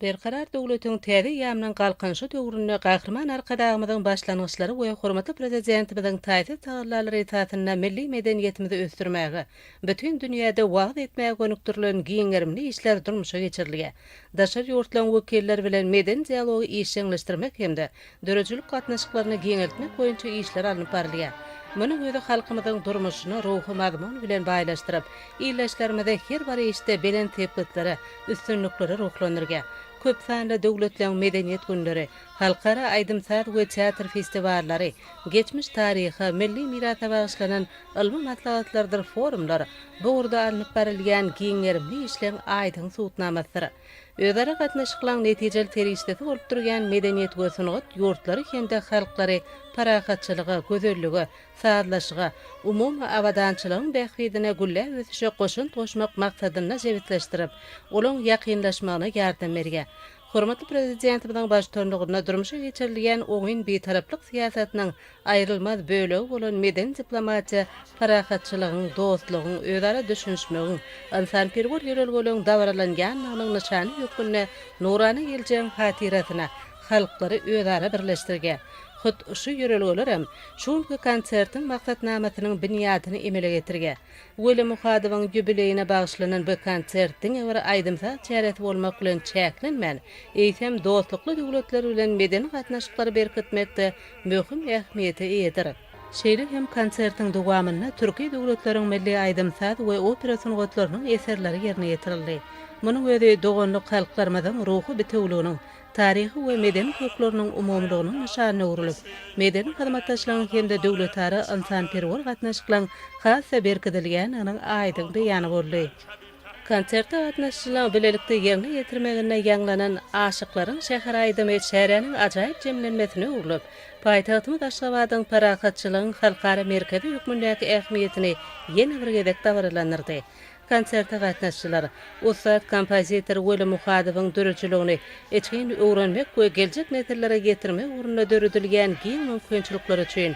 Berkarar döwletiň täze eýýamynyň Galkynyşy döwründe Gahryman Arkadagymyzyň başlangyçlary we hormatly Prezidentimiziň taýsyz tagallalary esasynda milli medeniýetimizi ösdürmäge, bütin dünýäde wagyz etmäge gönükdirilen giň gerimli işler durmuşa geçirilýär. Daşary ýurtlaryň wekilleri bilen medeni dialogy işjeňleşdirmek hem-de döredijilik gatnaşyklaryny giňeltmek boýunça işler alnyp barylýar. Munuň özi halkymyzyň durmuşyny ruhy mazmun bilen baýlaşdyryp, ildeşlerimizi her bir işde belent sepgitlere, üstünliklere ruhlandyrýar. Köp sanly döwletleň Medeniýet günleri, halkara aýdym-saz we teatr festiwallary, geçmiş taryha, milli mirasa bagyşlanan ylmy maslahatlardyr forumlar bu ugurda alnyp barylýan giň gerimli işleň aýdyň subutnamasydyr. özara gatnaşyklaryň netijeli serişdesi bolup durýan medeniýet we sungat ýurtlary hem-de halklary parahatçylyga, gözellige, sazlaşyga, umumy abadançylygyň bähbidine gülläp ösüşe goşant goşmak maksadynda jebisleşdirip, olaryň ýakynlaşmagyna ýardam berýär. Hormatly Prezidentimiziň baştutanlygynda durmuşa geçirilýän oňyn Bitaraplyk syýasatynyň aýrylmaz bölegi bolan medeni diplomatiýa parahatçylygyň, dostlugyň, özara düşünişmegiň, ynsanperwer ýörelgeleriň dabaralanýandygynyň nyşany hökmünde nurana geljegiň hatyrasyna halklary özara birleşdirýär. Hut şu ýörelgeler hem şu günki konsertiň maksatnamasynyň binýadyny emele getirýär. Weli Muhadowyň ýubileýine bagyşlanan bu konsert diňe bir aýdym-saz çäresi bolmak bilen çäklenmän, eýsem, dostlukly döwletler bilen medeni gatnaşyklary berkitmekde möhüm ähmiýete eýedir. Şeýle hem konsertiň dowamynda türki döwletleriň milli aýdym-saz we opera sungatlarynyň eserleri ýerine ýetirildi. Munuň özi doganlyk halklarymyzyň ruhy bitewüliginiň, taryhy we medeni kökleriniň umumylygynyň nyşanyna öwrülip, medeni hyzmatdaşlygyň hem-de döwletara ynsanperwer gatnaşyklaryň has-da berkidilýändiginiň aýdyň beýany boldy. Konsertde gatnaşyjylaryň bilelikde ýerine ýetirmeginde ýaňlanan Aşyklaryň şäheri aýdymy çäräniň ajaýyp jemlenmesine öwrülip, paýtagtymyz Aşgabadyň parahatçylygyň halkara merkezi hökmündäki ähmiýetini ýene bir gezek dabaralandyrdy. Konserte gatnaşyjylar ussat kompozitor Weli Muhadowyň döredijiligini içgin öwrenmek we geljek nesillere ýetirmek ugrunda döredilýän giň mümkinçilikler üçin